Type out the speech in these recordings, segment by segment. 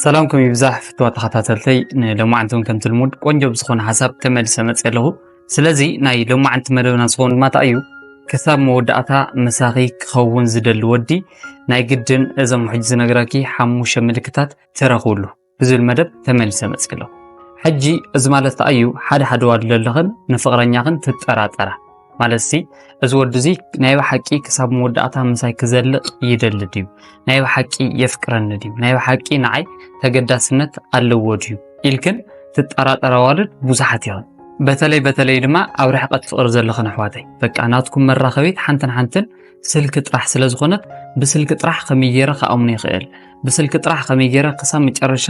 ሰላምኩም ይብዛሕ ፍትዋ ተኸታተልተይ ንሎማዓንቲ እውን ከምቲ ልሙድ ቆንጆ ብዝኾነ ሓሳብ ተመልሰ መፅ ኣለኹ ስለዚ ናይ ሎማዓንቲ መደብና ዝኸውን ድማ እንታይ እዩ ክሳብ መወዳእታ ምሳኺ ክኸውን ዝደሊ ወዲ ናይ ግድን እዞም ሕጂ ዝነግራኪ ሓሙሽተ ምልክታት ትረኽብሉ ብዝብል መደብ ተመልሰ መፅ ኣለኹ ሕጂ እዚ ማለት እንታይ እዩ ሓደ ሓደ ዋድሎ ኣለኽን ንፍቕረኛኽን ትጠራጠራ ማለትሲ እዚ ወዲ እዚ ናይ ብሓቂ ክሳብ መወዳእታ ምሳይ ክዘልቕ ይደሊ ድዩ ናይ ብሓቂ የፍቅረኒ ድዩ ናይ ብሓቂ ንዓይ ተገዳስነት ኣለዎ ድዩ ኢልክን ትጠራጠራ ዋልድ ብዙሓት ይኸን በተለይ በተለይ ድማ ኣብ ርሕቀት ፍቕሪ ዘለኽን ኣሕዋተይ በቃ ናትኩም መራኸቢት ሓንትን ሓንትን ስልኪ ጥራሕ ስለ ዝኾነት ብስልኪ ጥራሕ ከመይ ገይረ ክኣምኖ ይኽእል ብስልኪ ጥራሕ ከመይ ገይረ ክሳብ መጨረሻ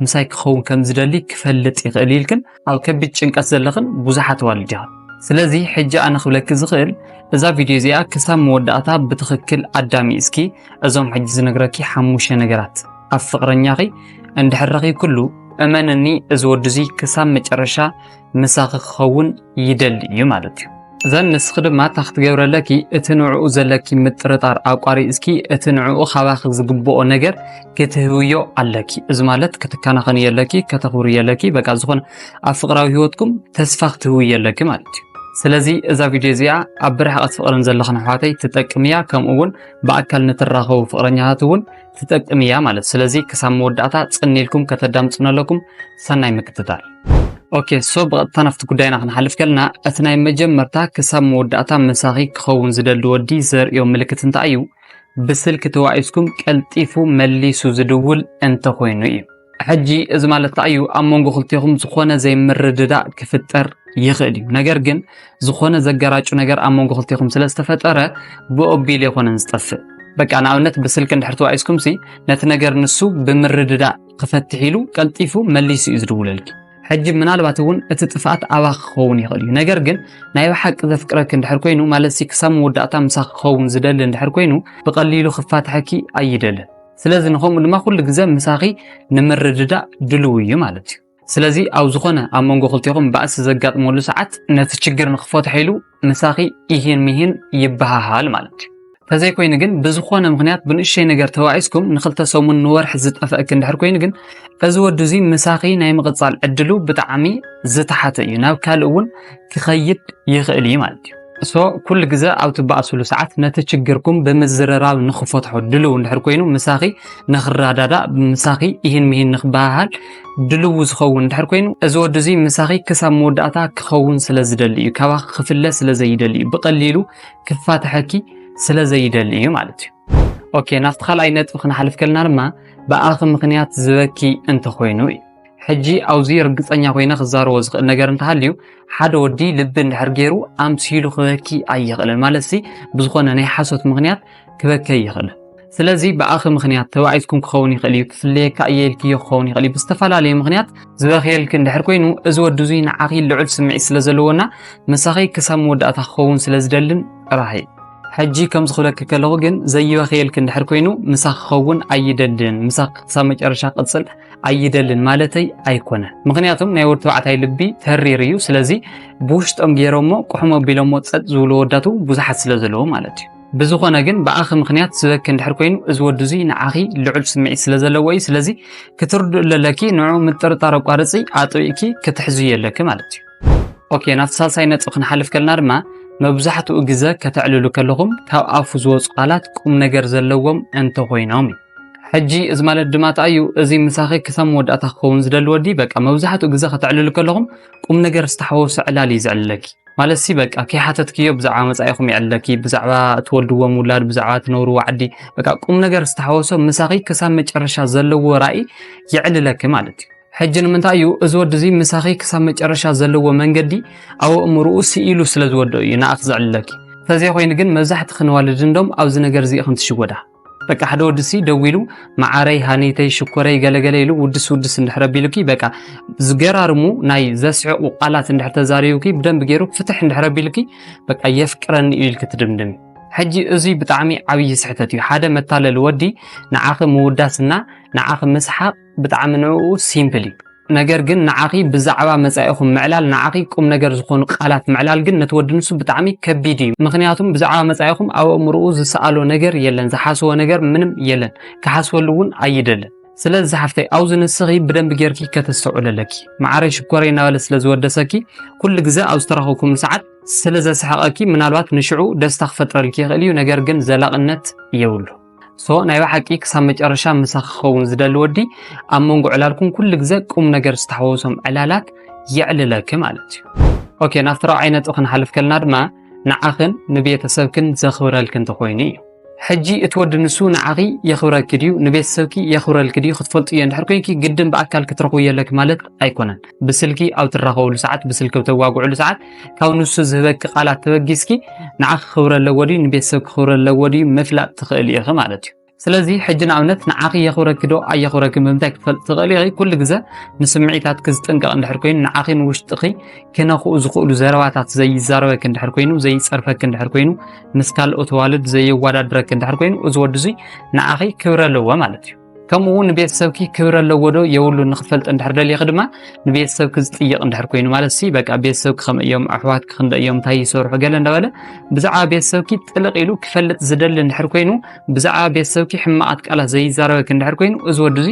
ምሳይ ክኸውን ከም ዝደሊ ክፈልጥ ይኽእል ኢልክን ኣብ ከቢድ ጭንቀት ዘለኽን ብዙሓት ኣዋልድ ኢኻ። ስለዚ ሕጂ ኣነ ክብለኪ ዝኽእል እዛ ቪድዮ እዚኣ ክሳብ መወዳእታ ብትኽክል ኣዳሚ እስኪ እዞም ሕጂ ዝነግረኪ ሓሙሽተ ነገራት ኣብ ፍቕረኛኺ እንድሕር ረኺብክሉ እመንኒ እዚ ወዲ እዙይ ክሳብ መጨረሻ ምሳኺ ክኸውን ይደሊ እዩ ማለት እዩ። ዘን ንስኺ ድማ እታ ክትገብረለኪ እቲ ንዕኡ ዘለኪ ምጥርጣር ኣቋሪፅኪ እቲ ንዕኡ ካባኺ ዝግብኦ ነገር ክትህብዮ ኣለኪ። እዚ ማለት ክትከናኸን የለኪ ከተኽብር የለኪ በቃ ዝኾነ ኣብ ፍቅራዊ ህይወትኩም ተስፋ ክትህቡ የለኪ ማለት እዩ። ስለዚ እዛ ቪድዮ እዚኣ ኣብ ብርሕቐት ፍቅርን ዘለኽን ኣሕዋተይ ትጠቅም እያ። ከምኡ እውን ብኣካል ንትራኸቡ ፍቅረኛታት እውን ትጠቅም እያ ማለት ስለዚ ክሳብ መወዳእታ ጽን ኢልኩም ከተዳምጹን ኣለኩም ሰናይ ምክትታል ኦኬ ሶ ብቐጥታ ናብቲ ጉዳይና ክንሓልፍ ከለና እቲ ናይ መጀመርታ ክሳብ መወዳእታ ምሳኺ ክኸውን ዝደሊ ወዲ ዘርእዮ ምልክት እንታይ እዩ? ብስልኪ ተዋኢስኩም ቀልጢፉ መሊሱ ዝድውል እንተኾይኑ እዩ። ሕጂ እዚ ማለት እንታይ እዩ ኣብ መንጎ ክልቴኹም ዝኾነ ዘይምርድዳእ ክፍጠር ይኽእል እዩ ነገር ግን ዝኾነ ዘገራጩ ነገር ኣብ መንጎ ክልቴኹም ስለ ዝተፈጠረ ብኦቢል የኾነን ዝጠፍእ በቃ ንኣብነት ብስልኪ እንድሕር ተዋኢስኩም ሲ ነቲ ነገር ንሱ ብምርድዳእ ክፈትሕ ኢሉ ቀልጢፉ መሊሱ እዩ ዝድውለልኪ ሕጂ ምናልባት እውን እቲ ጥፍኣት ኣባ ክኸውን ይኽእል እዩ ነገር ግን ናይ ብሓቂ ዘፍቅረኪ እንድሕር ኮይኑ ማለት ሲ ክሳብ መወዳእታ ምሳኺ ክኸውን ዝደሊ እንድሕር ኮይኑ ብቐሊሉ ክፋትሐኪ ኣይደልን ስለዚ ንከምኡ ድማ ኩሉ ግዘ ምሳኺ ንምርድዳእ ድልው እዩ ማለት እዩ ስለዚ ኣብ ዝኾነ ኣብ መንጎ ክልቴኹም ባእሲ ዘጋጥመሉ ሰዓት ነቲ ችግር ንክፈትሖ ኢሉ ምሳኺ ኢሂን ሚሂን ይበሃሃል ማለት እዩ ተዘይኮይኑ ግን ብዝኾነ ምክንያት ብንእሸይ ነገር ተባኢስኩም ንክልተ ሰሙን ንወርሒ ዝጠፈእኪ እንድሕር ኮይኑ ግን እዚ ወዲ እዚ ምሳኺ ናይ ምቕፃል ዕድሉ ብጣዕሚ ዝተሓተ እዩ ናብ ካልእ እውን ክኸይድ ይኽእል እዩ ማለት እዩ so ኩሉ ግዘ ኣብ ትበኣስሉ ሰዓት ነቲ ችግርኩም ብምዝርራብ ንክፈትሖ ድልው እንድሕር ኮይኑ ምሳኺ ንክረዳዳእ ምሳኺ ይህን ምሂን ንክበሃሃል ድልው ዝኸውን እንድሕር ኮይኑ እዚ ወዲ እዚ ምሳኺ ክሳብ መወዳእታ ክኸውን ስለ ዝደሊ እዩ ካባኺ ክፍለ ስለ ዘይደሊ እዩ ብቐሊሉ ክፋትሐኪ ስለ ዘይደሊ እዩ ማለት እዩ ኦኬ ናብቲ ካልኣይ ነጥቢ ክንሓልፍ ከለና ድማ ብኣኺ ምክንያት ዝበኪ እንተኮይኑ እዩ ሕጂ ኣውዚ ርግጸኛ ኮይነ ክዛረቦ ዝኽእል ነገር እንተሃልዩ ሓደ ወዲ ልቢ እንድሕር ገይሩ ኣምሲሉ ክበኪ ኣይኽእልን ማለት ሲ ብዝኾነ ናይ ሓሶት ምኽንያት ክበኪ ኣይኽእልን ስለዚ ብኣኺ ምኽንያት ተባዒዝኩም ክኸውን ይኽእል እዩ ክፍለየካ እየ ኢልክዮ ክኸውን ይኽእል እዩ ብዝተፈላለየ ምኽንያት ዝበኽየልኪ እንድሕር ኮይኑ እዚ ወዲ እዙይ ንዓኺ ልዑል ስምዒት ስለ ዘለዎና ምሳኺ ክሳብ መወዳእታ ክኸውን ስለ ዝደልን ጥራሕ እዩ ሕጂ ከምዚ ክብለኪ ከለኹ ግን ዘይበኽየልኪ እንድሕር ኮይኑ ምሳኺ ክኸውን ኣይደልን ምሳኺ ክሳብ መጨረሻ ቅፅል ኣይደልን ማለተይ ኣይኮነ ምክንያቱም ናይ ወዲ ተባዕታይ ልቢ ተሪር እዩ ስለዚ ብውሽጦም ገይሮሞ ቁሕሞ ኣቢሎሞ ፀጥ ዝብሉ ወዳቱ ብዙሓት ስለ ዘለዎ ማለት እዩ ብዝኾነ ግን ብኣኺ ምክንያት ዝበኪ እንድሕር ኮይኑ እዚ ወዲ እዙይ ንዓኺ ልዑል ስምዒት ስለ ዘለዎ እዩ ስለዚ ክትርድኡ ኣለለኪ ንዑ ምጥርጣር ኣቋርፂ ኣጥቢእኪ ክትሕዙ የለኪ ማለት እዩ ኦኬ ናብቲ ሳልሳይ ነጥቢ ክንሓልፍ ከለና ድማ መብዛሕትኡ ግዘ ከተዕልሉ ከለኹም ካብ ኣፉ ዝወፁ ቃላት ቁም ነገር ዘለዎም እንተኾይኖም እዩ ሕጂ እዚ ማለት ድማ እንታይ እዩ እዚ ምሳኺ ክሳብ መወዳእታ ክኸውን ዝደሊ ወዲ በቃ መብዛሕትኡ ግዜ ከተዕልሉ ከለኹም ቁም ነገር ዝተሓወሶ ዕላል እዩ ዘዕልለኪ ማለት ሲ በቃ ከይሓተትክዮ ብዛዕባ መጻኢኹም ይዕልለኪ ብዛዕባ እትወልድዎም ውላድ ብዛዕባ እትነብርዎ ዓዲ በቃ ቁም ነገር ዝተሓወሶ ምሳኺ ክሳብ መጨረሻ ዘለዎ ራእይ የዕልለኪ ማለት እዩ ሕጂ ንምንታይ እዩ እዚ ወዲ እዚ ምሳኺ ክሳብ መጨረሻ ዘለዎ መንገዲ ኣብ ኣእምርኡ ስኢሉ ስለ ዝወደኦ እዩ ንኣኽ ዘዕልለኪ እንተዘይኮይኑ ግን መብዛሕትኺ ነዋልድ እንዶም ኣብዚ ነገር እዚ ኢኽን ትሽወዳ በቃ ሓደ ወዲ ሲ ደው ኢሉ መዓረይ ሃኒተይ ሽኮረይ ገለገለ ኢሉ ውድስ ውድስ እንድሕረ ቢሉኪ በቃ ዝገራርሙ ናይ ዘስዕቑ ቃላት እንድሕር ተዛሪቡኪ ብደንብ ገይሩ ፍትሕ እንድሕረ ቢሉኪ በቃ የፍቅረኒ እዩ ኢልኪ ትድምድሚ ሕጂ እዙይ ብጣዕሚ ዓብዪ ስሕተት እዩ ሓደ መታለሊ ወዲ ንዓኺ ምውዳስና ንዓኺ ምስሓቕ ብጣዕሚ ንዕኡ ሲምፕል እዩ ነገር ግን ንዓኺ ብዛዕባ መጻኢኹም ምዕላል ንዓኺ ቁም ነገር ዝኾኑ ቃላት ምዕላል ግን ነቲ ወዲ ንሱ ብጣዕሚ ከቢድ እዩ ምኽንያቱም ብዛዕባ መጻኢኹም ኣብ ኣእምሮኡ ዝሰኣሎ ነገር የለን ዝሓስቦ ነገር ምንም የለን ክሓስበሉ እውን ኣይደልን ስለዚ ሓፍተይ ኣብዚ ንስኺ ብደንብ ጌርኪ ከተስተውዕል ኣለኪ መዓረይ ሽኮረይ እናበለ ስለ ዝወደሰኪ ኩሉ ግዘ ኣብ ዝተረኸብኩም ሰዓት ስለ ዘስሕቐኪ ምናልባት ንሽዑ ደስታ ክፈጥረልኪ ይኽእል እዩ ነገር ግን ዘላቕነት የብሉ ሶ ናይ ብሓቂ ክሳብ መጨረሻ ምሳኽ ክኸውን ዝደሊ ወዲ ኣብ መንጎ ዕላልኩም ኩሉ ግዘ ቁም ነገር ዝተሓወሶም ዕላላት የዕልለኪ ማለት እዩ። ኦኬ ናብቲ ራብዓይ ነጥቢ ክንሓልፍ ከልና ድማ ንዓኽን ንቤተሰብክን ዘኽብረልክን ተኾይኑ እዩ። ሕጂ እቲ ወዲ ንሱ ንዓኺ የኽብረኪ ድዩ ንቤተሰብኪ የኽብረልኪ ድዩ ክትፈልጥዮ እንድሕር ኮንኪ ግድን ብኣካል ክትረኽብዮ ኣለኪ ማለት ኣይኮነን። ብስልኪ ኣብ ትራኸብሉ ሰዓት ብስልኪ ኣብ ተዋግዕሉ ሰዓት ካብ ንሱ ዝህበኪ ቃላት ተበጊስኪ ንዓኺ ክብሪ ኣለዎ ድዩ ንቤተሰብኪ ክብሪ ኣለዎ ድዩ ምፍላጥ ትኽእሊ ኢኺ ማለት እዩ ስለዚ ሕጂ ንኣብነት ንዓኺ የኽብረኪ ዶ ኣየኽብረኪ ብምንታይ ክትፈልጥ ትኽእሊ ኢኺ ኩሉ ግዘ ንስምዒታትኪ ዝጥንቀቕ እንድሕር ኮይኑ ንዓኺ ንውሽጥኺ ክነኽኡ ዝኽእሉ ዘረባታት ዘይዛረበኪ እንድሕር ኮይኑ ዘይፀርፈኪ እንድሕር ኮይኑ ምስ ካልኦት ኣዋልድ ዘየወዳድረኪ እንድሕር ኮይኑ እዚ ወዲ እዙይ ንዓኺ ክብሪ ኣለዎ ማለት እዩ ከምኡ እውን ንቤተሰብኪ ክብረ ኣለዎ ዶ የብሉ ንክትፈልጥ እንድሕር ደሊኺ ድማ ንቤተሰብኪ ዝጥይቕ እንድሕር ኮይኑ ማለት ሲ በቃ ቤተሰብኪ ከም እዮም ኣሕዋትኪ ክንደ እዮም እንታይ ይሰርሑ ገለ እንዳበለ ብዛዕባ ቤተሰብኪ ጥልቕ ኢሉ ክፈልጥ ዝደሊ እንድሕር ኮይኑ ብዛዕባ ቤተሰብኪ ሕማቓት ቃላት ዘይዛረበኪ እንድሕር ኮይኑ እዚ ወዲ እዚ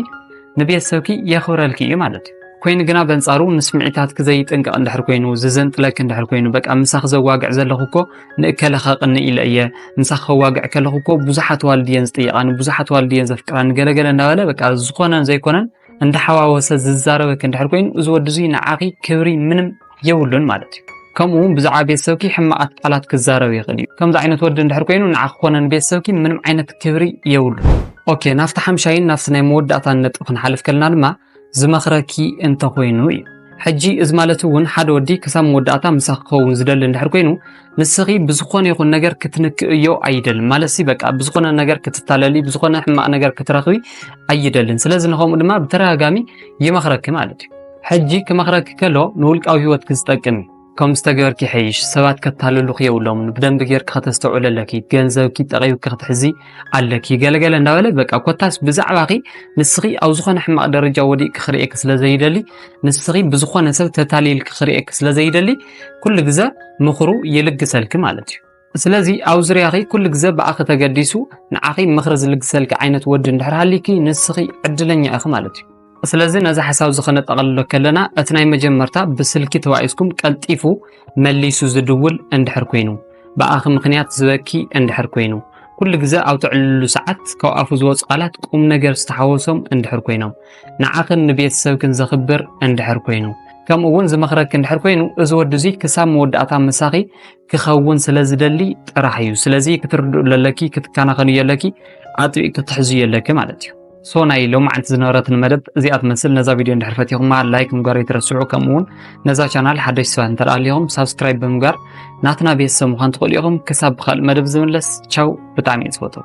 ንቤተሰብኪ የኽብረልኪ እዩ ማለት እዩ ኮይኑ ግና በንጻሩ ንስምዒታትኪ ዘይጥንቀቕ እንድሕር ኮይኑ ዝዘንጥለኪ እንድሕር ኮይኑ በቃ ምሳኺ ዘዋግዕ ዘለኹ እኮ ንእከለ ከቕኒ ኢለ እየ ንሳ ከዋግዕ ከለኹ እኮ ብዙሓት ዋልድ እየን ዝጥይቃኒ ብዙሓት ዋልድ እየን ዘፍቅራኒ ገለገለ እንዳበለ በቃ ዝኾነን ዘይኮነን እንዳሓዋወሰ ዝዛረበክ እንድሕር ኮይኑ እዚ ወዲ እዙይ ንዓኺ ክብሪ ምንም የብሉን ማለት እዩ ከምኡ እውን ብዛዕባ ቤተሰብኪ ሕማቓት ቃላት ክዛረብ ይኽእል እዩ ከምዚ ዓይነት ወዲ እንድሕር ኮይኑ ንዓኺ ኮነን ቤተሰብኪ ምንም ዓይነት ክብሪ የብሉን ኦኬ ናብቲ ሓምሻይን ናብቲ ናይ መወዳእታን ነጥቢ ክንሓልፍ ከለና ድማ ዝመኽረኪ እንተ ኾይኑ እዩ። ሕጂ እዚ ማለት እውን ሓደ ወዲ ክሳብ መወዳእታ ምሳኺ ክኸውን ዝደሊ እንድሕር ኮይኑ ንስኺ ብዝኾነ ይኹን ነገር ክትንክእዮ ኣይደልን ማለት ሲ በቃ ብዝኾነ ነገር ክትታለሊ ብዝኾነ ሕማቕ ነገር ክትረኽቢ ኣይደልን። ስለዚ ንኸምኡ ድማ ብተደጋጋሚ ይመኽረኪ ማለት እዩ። ሕጂ ክመኽረኪ ከሎ ንውልቃዊ ህይወትኪ ዝጠቅም እዩ። ከምዚ ተገበርኪ ይሐይሽ ሰባት ከታልሉኺ የብሎምን ብደንቢ ጌርኪ ከተስተውዕሊ ኣለኪ ገንዘብኪ ጠቂብኪ ክትሕዚ ኣለኪ ገለገለ እንዳበለ በቃ ኮታስ ብዛዕባኺ ንስኺ ኣብ ዝኾነ ሕማቕ ደረጃ ወዲቅኪ ክርእየኪ ስለ ዘይደሊ ንስኺ ብዝኾነ ሰብ ተታሊልኪ ክርእየኪ ስለ ዘይደሊ ኩሉ ግዘ ምኽሩ ይልግሰልኪ ማለት እዩ ስለዚ ኣብ ዙርያኺ ኩሉ ግዘ ብኣኺ ተገዲሱ ንዓኺ ምኽሪ ዝልግሰልኪ ዓይነት ወዲ እንድሕር ሃልዩኪ ንስኺ ዕድለኛ ኢኺ ማለት እዩ። ስለዚ ነዚ ሓሳብ እዚ ከነጠቐልሎ ከለና እቲ ናይ መጀመርታ ብስልኪ ተባኢስኩም ቀልጢፉ መሊሱ ዝድውል እንድሕር ኮይኑ ብኣኺ ምኽንያት ዝበኪ እንድሕር ኮይኑ ኩሉ ግዘ ኣብ ትዕልሉ ሰዓት ካብ ኣፉ ዝወፁ ቃላት ቁም ነገር ዝተሓወሶም እንድሕር ኮይኖም ንዓኽን ንቤተሰብክን ዘኽብር እንድሕር ኮይኑ ከምኡ እውን ዝመኽረኪ እንድሕር ኮይኑ እዚ ወዲ እዚ ክሳብ መወዳእታ ምሳኺ ክኸውን ስለ ዝደሊ ጥራሕ እዩ ስለዚ ክትርድኡ ኣለኪ ክትከናኸኑ የለኪ ኣጥቢቅ ክትሕዙ የለኪ ማለት እዩ ሶ ናይ ሎማዓንቲ ዝነበረትን መደብ እዚኣ ትመስል ነዛ ቪድዮ እንድሕር ፈቲኹማ ላይክ ምግባር ይትረስዑ ከምኡ እውን ነዛ ቻናል ሓደሽ ሰባት እንተደኣ ኣሊኹም ሳብስክራይብ ብምግባር ናትና ቤተሰብ ምዃን ትኽእሉ ኢኹም ክሳብ ብካልእ መደብ ዝምለስ ቻው ብጣዕሚ እየ ዝፈትው